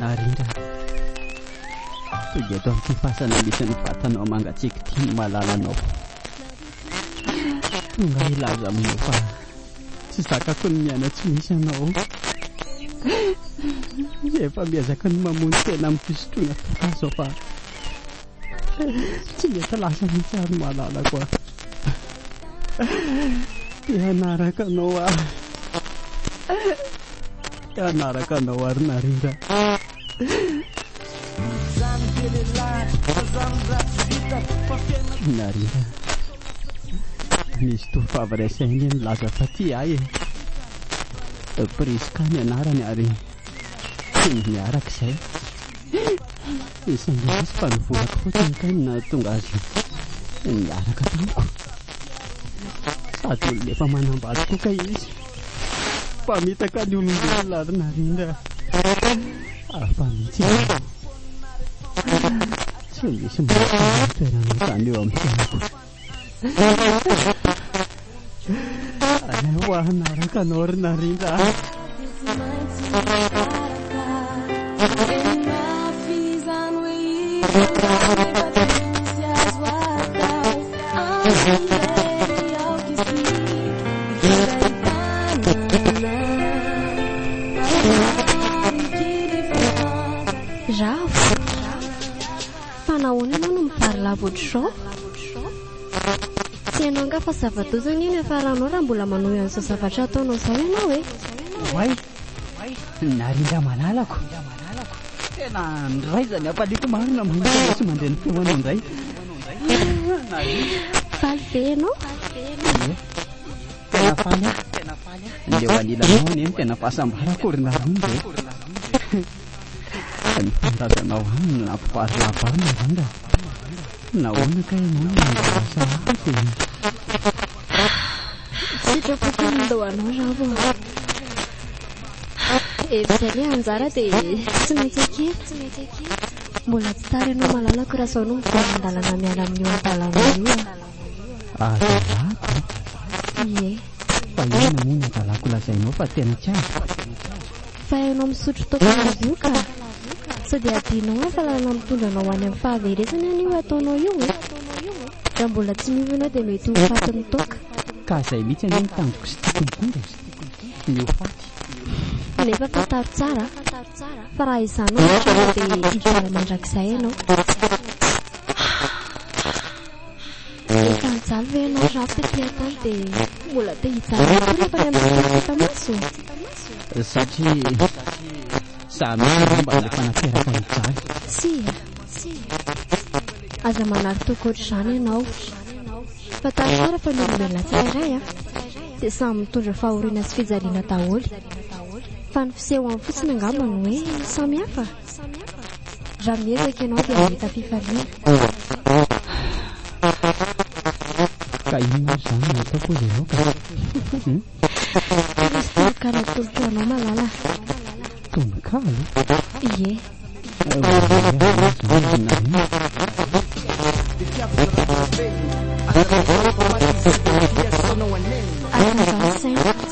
Narira, dia eto amin'ity fasana misy ny vatanao mangatsiaka ity ny malalanao. Tonga hilaza aminao fa tsy zakako ny miaina tsy misy anao. Efa miezaka ny mamono tena amin'ny fisotroana toaka aza aho fa Tsy mety lasa mihitsy ary malalako a! Te hanaraka anao aho Te hanaraka anao ary narira Narira Misy tovovavy resahiny milaza fa tia ahy e Prisca ny anarany ary Tsy ny miaraka izay Tsy mba nisy fa ny volako fotsiny kay no nahatonga azy niaraka tamiko. Sady olona efa manambady koa kay izy. Mpamitaka ny olombelona ary narindra hafa mihitsy izy. Tsy misy mahatonga ny toerana tany eo amin'ny fiainako. Aleo hanaraka anao ry narindra a Fa nahoana ianao no mivarilavo ohatr'izao? Tsy hainao angaha fa zava-doza anie ny hafaranao raha mbola manohy an'izao zavatra ataonao izao ianao e! Oay! Narindra manalako! Tena niraiza ny hapaliako marina mahita anao tsy mandre ny feonao indray! Faly ve ianao? Ie! Tena faly aho! Ny eo anilanao anie no tena fahasambarako ry Narindra e! Tsara ny tanindrazanao any no nampivary lava ahy narindra a! Nahoana kay ianao no nangalasa ahy teo iny? Sitrako ity mandao anao raho a! Efa izay ilay anjara dia tsy maintsy ekena. Mbola tsy tara ianao malalako raha izao no miverina an-dalana miala amin'io an-dalana io a! Azalako? Ie. Fa inona moa ny azalako lazainao fa tena tsy azo? Fa hainao misotro toaka an'avoa ka! Sao dia adinonao ny fahalalana mitondra anao any amin'ny fahaverezana anie io ataonao io e? Raha mbola tsy miova ianao dia mety ho fatin'ny toaka. Ka izay mihitsy anie no tandriko sy tiako mitondra e! Ny ho faty. Nefa fantaro tsara fa raha izany ohatra ianao dia hijery mandrakizay ianao. Rehefa nijaly ve ianao Raf tety an-tany dia mbola te hijaly ihany koa rehefa nianao tsy tafita-maso? Satria za mihitsy angamba ilay fanaterako an'i Jaly. Tsia, aza manary toky ohatr'izany ianao. Fantaro tsara fa ny olombelona tsirairay dia samy mitondra fahoriana sy fijaliana daholo. Fa ny fisehony fotsiny angamba no hoe samihafa. Raha miezaka ianao dia hahita fifaliana. Ka inona avy izany no ataoko hozy ianao ka? Misy tononkalo atolotro ho anao malala. Tononkalo? Ie. Akanjaho saina.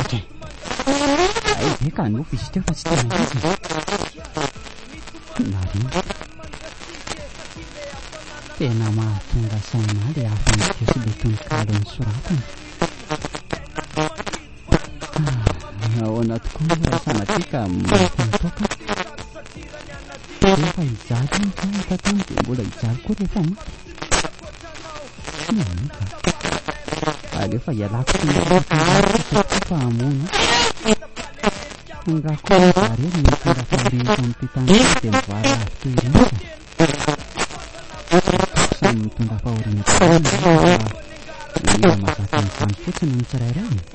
Okay. Ay be ka nofy izy teo fa tsy tena izy. Marina. Tena mahatonga saina le aventure sy le tononkalo nosoratana. Ah, ahoana tokoa moa raha sanatria ka maty nitoka. Rehefa hijaly ihany ka tato dia mbola hijaly koa rehefa maty. Alefa ialako tsy misy fa hamono Tonga koa zare ny mitondra fandriana eto amin'ity tany ity dia mivara avy toy ireny Samy mitondra fahoriana tokoa ny olona fa mila mazaka an'izany fotsiny ny tsirairay e.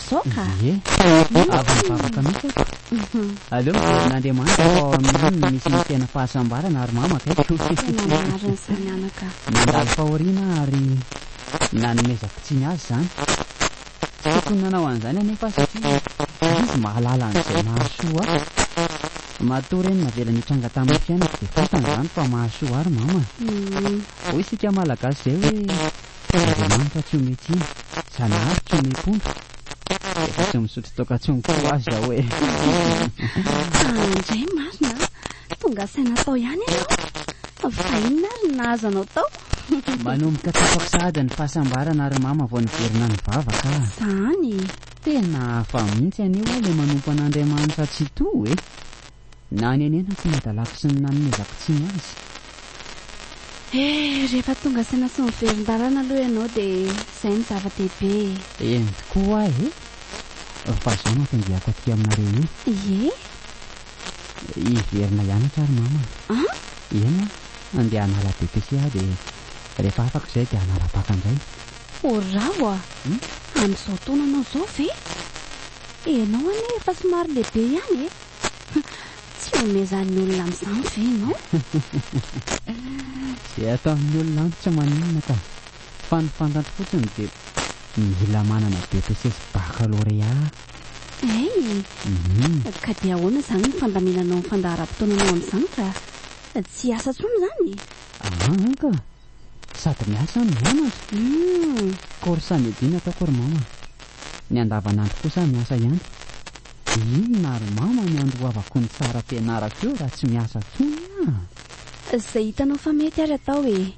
Zao ka. Ie, fa eto avy mivavaka mihitsy aho. Aleo mijery an'Andriamanitra fa ao amin'ny any no misy ny tena fahasambarana ary mama akaiky. Tena marina izany anaka a. Nandalo fahoriana aho ary nanomezako tsiny azy izany. Tsy tokony nanao an'izany anefa aho satria izy mahalala an'izay mahasoa ahy. Matoa re ny navelany hitranga tamin'ny fiainako dia fantany izany fa mahasoa ahy ry mama a. Hoy isika Malagasy izay hoe. Tena Andriamanitra tsy omey tsiny, Zanahary tsy omey pondra, efa tsy misotro toaka intsony koa ho'a izao e! Tsa indray marina a! Tonga saina tao ihany ianao fa inona ary ny nahazo anao tao? Manomboka tsapako sahady ny fahasambarana ry Mama vao niverina nivavaka a! Izany e! Tena hafa mihitsy anie ho'a ilay manompo an'Andriamanitra Tsitoha e! Nanenenako ny hadalako sy ny nanomezako tsiny azy. Eh, rehefa tonga saina sy miverin-dalana aloha ianao dia izay no zava-dehibe e! Eny tokoa hoa e! Fa izao no anton-diako aty aminareo io. Ie? Hiverina hianatra ary mama. An? Eny an, handeha hanala BPC aho dia rehefa afaka izay dia hanala Bacc indray. Orao a! Amin'izao taona anao izao ve? Ianao anie efa somary lehibe ihany e! Tsy omezan'ny olona amin'izany ve ianao? Izay ataon'ny olona amiko tsy maninona ka. Fa ny fantatro fotsiny dia mila manana BEPC sy Baccalauréat aho. Hey! Ka dia ahoana izany ny fandaminanao ny fandaharam-potoananao amin'izany ka tsy hiasa intsony izany? An ka! Sady miasa no mianatra. Humm. Course any Edina ataoko ry mama. Ny andavanandro kosa miasa ihany. Inona ry mama ny andoavako ny tsara ampianarako eo raha tsy miasa tsony ah. Izay hitanao fa mety ary atao e.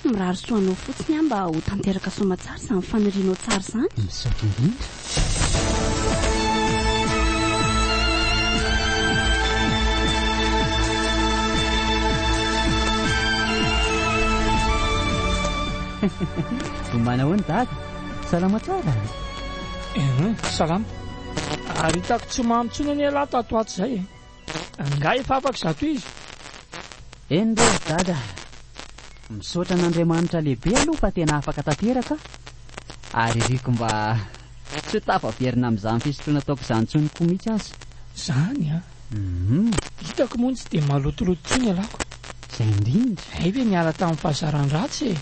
Mirary soa anao fotsiny aho mba ho tanteraka soamatsara izany fanirianao tsara izany. Misaotra indrindra. Ombana ahoana dada? Salama tsara? Eh, salama. Ary hitako tsy mamy intsony anie lahy tato atsy izay e. Angaha efa afaka zato izy? Eny re ry dada a! Misaotra an'Andriamanitra lehibe aloha fa tena afaka tanteraka aho ary iriko mba tsy ho tafaverina amin'izany fisotroana ataoko izany intsony koa mihitsy aza. Izany an! Hum. Hitako moa tsy dia malotoloto intsony ialako. Izay indrindra. Hay ve niala tamin'ny fahazaran-dratsy e!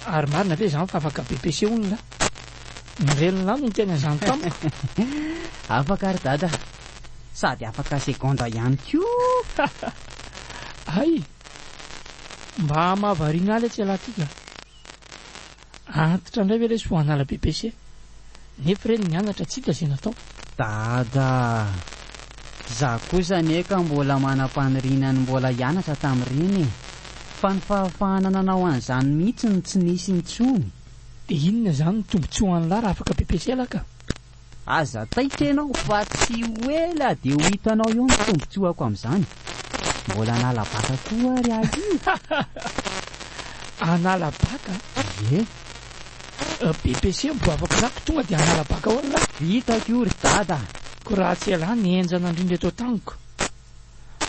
Ary marina ve izany fa afaka BPC olona? Ny ren'lah no niteny an'izany tamiko. Afaka ry dada, sady afaka segondra ihany koa! Hay! Mba hamahavariana ahy letsy elah ty ka! Antitra indray ve lesy ho an'ala BPC? Nefo re ny mianatra tsy hita izay natao. Dada ah! Za kosa anie ka mbola manam-paniriana ny mbola hianatra tamin'ireny e! Fa ny fahafahana nanao an'izany mihitsy no tsy nisy intsony! Dia inona izany no tombontsoa an'lah raha afaka PPCL aho ka? Aza taitra ianao fa tsy ho ela dia ho hitanao eo ny tombontsoako amin'izany! Mbola hanala baka koa ary aho io! Hanala baka? Ie! BPC mbo afaka za ko tonga de hanala baka ahoana ra? Vitako io ry dada a! Ko raha tsy elah ny henjana ndrindra eto an-taniko.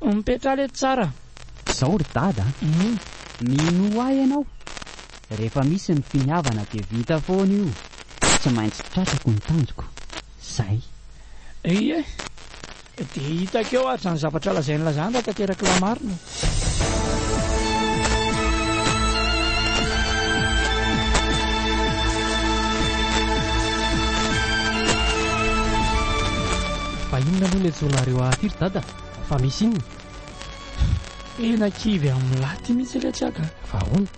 Mipetraha lety tsara. Zao ry dada a! Minoa ahy ianao, rehefa misy ny finiavana dia vita foana io, tsy maintsy tratrako ny tanjoko. Zay. Ie. Dia hitako eo ary izany zavatra lazain'i Lazare raha tanterak'i Lamarina e! Fa inona aloha ilay joronareo ahy ity ry dada? Fa misy inona? Tena kivy amin'ny lahy ity mihitsy iletsy aho ka. Fa ahoana?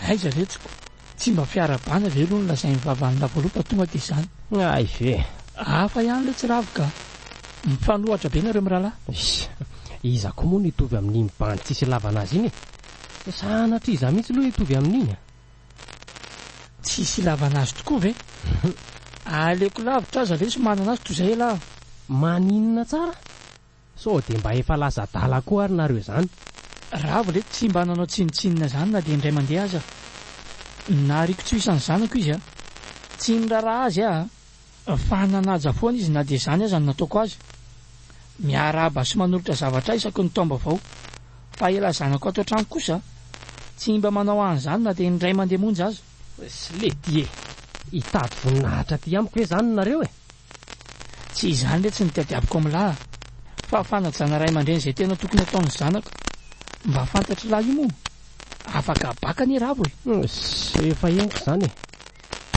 Aiza letsy ko? Tsy mba fiarahabana ve aloha no lazain'ny vavan'ny lavalou fa tonga dia izany. Hay ve. Hafa ihany ilay tsiravo ka. Mifanohatra be nareo mirahalahy. Iss. Iza koa moa no hitovy amin'iny bandy tsisy ilavana azy iny e? Sanatria izaho mihitsy aloha hitovy amin'iny a! Tsisy ilavana azy tokoa ve? Aleoko lavitra aza lesy manana azy toy izay elah! Maninona tsara? Sao dia mba efa lasa adala koa ary nareo izany? Ravo re tsy mba nanao tsinontsinona izany na dia indray mandeha aza aho. Nahariako tsy ho isan'ny zanako izy a! Tsy niraraha azy aho a! Fa nanaja foana izy na dia izany aza no nataoko azy. Miarahaba sy manolotra zavatra ahy isaky ny taom-baovao. Fa elah zanako ato an-trano kosa tsy mba manao an'izany na dia indray mandeha monja aza. Slay Dié! Hitady voninahitra aty amiko ve izany nareo e? Tsy izany letsy ny tadiaviko amin'ny lahy fa fanajana ray aman-dreny izay tena tokony ataon'ny zanaka mba fantatr'i lahy io moa afaka habaka anie ravo e! Sy efa henoko izany e!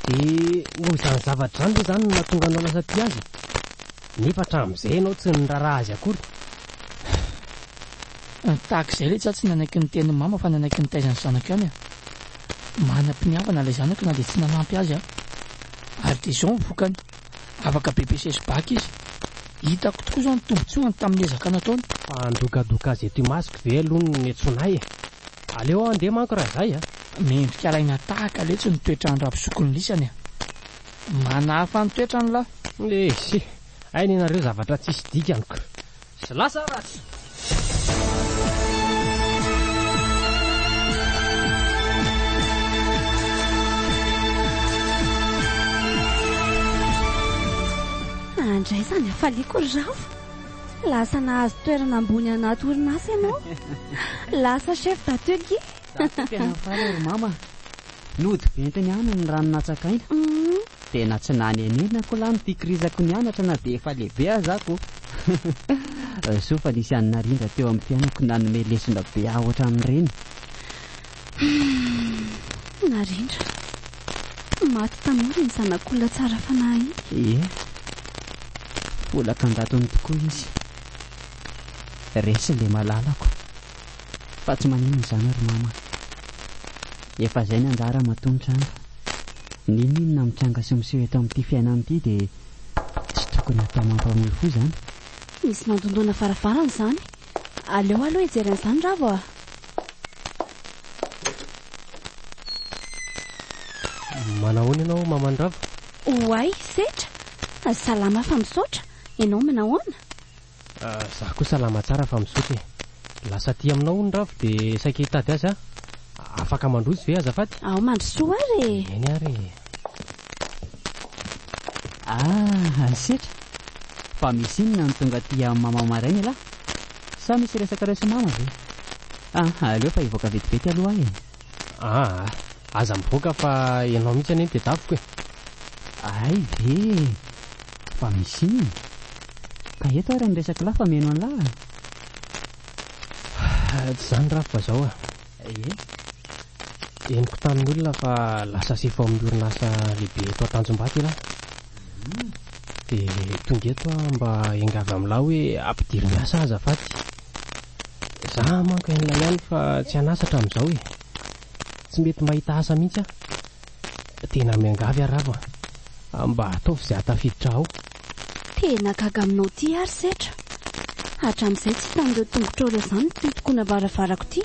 Dia noho izany zavatra izany ve izany no nahatonga anao lasa tia azy? Nefa hatramin'izay ianao tsy niraharaha azy akory? Tahaka izay letsy aho tsy nanaiky niteny ny mama fa nanaiky nitaiza ny zanako ihany e! Manam-piniavana ilay zanaka na dia tsy nanampy azy aho. Ary dia izao ny vokany, afaka BPCES bac izy. Hitako tokoa izao ny tombontsoany tamin'ny ezaka nataony. Fa handokadoka azy eto imasoko ve aloha no niantsoana ahy e? Aleo aho handeha manko raha izay a! Mendrika alaina tahaka letsy ny toetran-dRabozokin'i Lisany a! Manahafa ny toetrany lahy! Eisy! Hainy ianareo zavatra tsisy dikany ko! Sy lasa ary aza. Andraisany hafaliako ry Rafo. Lasa nahazo toerana ambony anaty orinasa ianao. Lasa chef d'atelier. Za teo mpianary faly ry mama Nody ventina ihany ny rano natsakaina Tena tsy nanenenako lahy ny fikirizako nianatra na dia efa lehibe aza ako Soa fa nisy an'i Narindra teo amin'ny fiainako nanome lesona be ahy ohatran'ireny Narindra Maty tanora iny zanak'olona tsara fanahy iny Ie Folaka an-jatony tokoa izy Resy ilay malalako Fa tsy maninona izany ry mama a! Efa zay ny anjara aho matoa ny tranga. N'inon'inona mitranga sy miseho eto amin'ity fiainana ity dia tsy tokony hatao mampamory fo izany. Misy mandondona varavarana izany. Aleo aloha hijery an'izany Ravo a! Manahoana ianao maman'i Ravo? Oay, Setra! Salama fa misaotra. Ianao manahoana? Za koa salama tsara fa misaotra e. Lasa aty aminao hono Ravo de saika hitady azy aho. Afaka mandroso ve azafady? Ao mandrosoa ary e! Eny ary e. Ah ry setra! Fa misy inona no tonga aty amin'i Maman maraina elah? Sa misy resakareo sy Mama ve? Ah aleo fa hivoaka vetivety aloha aho e. Aa! Aza mivoaka fa ianao mihitsy anie no tedaviko e! Hay ve e! Fa misy inona? Ka eto ary ny resako lahy fa mihaino an'lah a! Haa! Tsy izany Rafy fa izao a! Ie? Henoko tamin'ny olona fa lasa sefo ao amin'ny orinasa lehibe eto Antanjombato ialahy. Dia tonga eto aho mba hiangavy amin'lah hoe ampidiro miasa aho azafady. Za manko enina ihany fa tsy an'asa hatramin'izao e. Tsy mety mahita asa mihitsy aho. Tena miangavy aho Rava a, mba ataovy izay hahatafiditra ao. Tena gaga aminao ity aho ry Setra. Hatramin'izay tsy hitan'ireo tongotrao ireo izany ity hitokoana varavarako ity.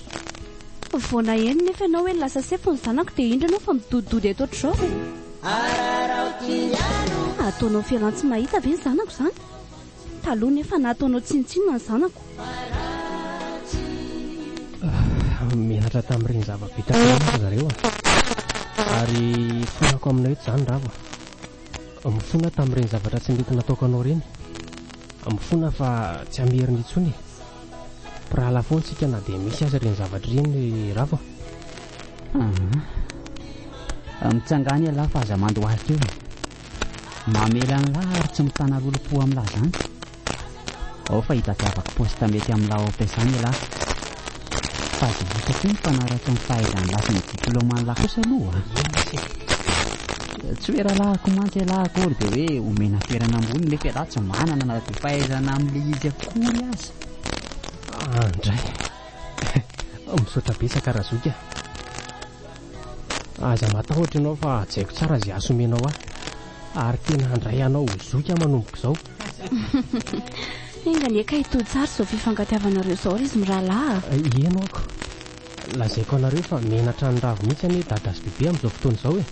Vao naheno nefa ianao hoe lasa sefo ny zanako dia indro ianao fa midodidody eto ohatr'izao e. Ataonao fialan-tsy mahita ve ny zanako izany? Taloha nefa nataonao tsinontsinona ny zanako. Menatra tamin'ireny zava-bitako ireny ry zareo a! Ary fanako aminao eto izany Rava. Mifona aho tamin'ireny zavatra tsy nety nataoko anao ireny. Mifona aho fa tsy hamerina intsony e! Mpirahalahy foana isika na dia misy aza ireny zavatra ireny ry Rava a! Mitsangàna ialahy fa aza mandohalika eo e! Mamela an'lah ary tsy mitana lolompo amin'lah zany. Ao fa hitadiavako poste mety amin'lah ao am-piasana elah. Fa dia hita koa ny mpanaratsy ny fahaizan'lah sy ny diplaoman'lah kosa aloha a! Tsy hoe rahalahiko mantsy elah akory dia hoe omena toerana ambony nefa elah tsy manana na dia fahaizana amin'ilay izy akory aza. Andray. Misaotra betsaka Razoky a! Aza matahotra ianao fa hajaiko tsara izay asa omenao ahy ary tena handray anao ho zoky aho manomboka izao. Enga anie ka hitohy tsara izao fifankatiavanareo izao ry izy mirahalahy a! Heno aho ko! Lazaiko anareo fa menatra ny ravo mihitsy anie Dada sy Bebe amin'izao fotoana izao e!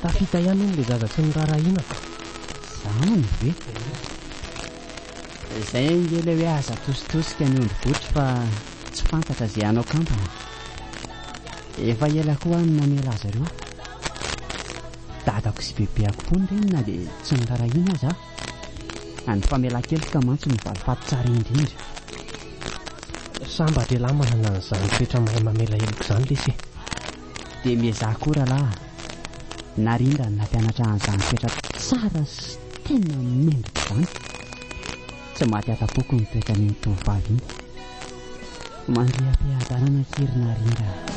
Tafita ihany hono ilay zaza tsy noraharahiana! Izany ve? Izay ange ilay hoe aza atositosika ny ondry botry fa tsy fantatra izay hanao kampana. Efa ela koa aho no namela azy ireo. Dadako sy bebeako koa ny reny na dia tsy norarahina aza aho. Any famelan-keloka mantsy no valifaty tsara indrindra. Sambatra ialahy manana an'izany toetra mahay mamela heloka izany lesy e. Dia miezaha koa rahalahy Narindra ny nampianatra an'izany toetra tsara sy tena mendrika izany. Tsy maty atam-poko ny toetran'iny tovovavy iny. Mandria am-piadanana akia-ry Narindra a!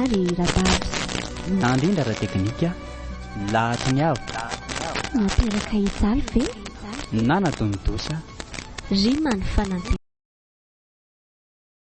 ary Rababs. Nandrindra ara-teknika lahatry ny avo. Nateraka hijaly ve? Nanadino dosa. Rima ny fanantenana.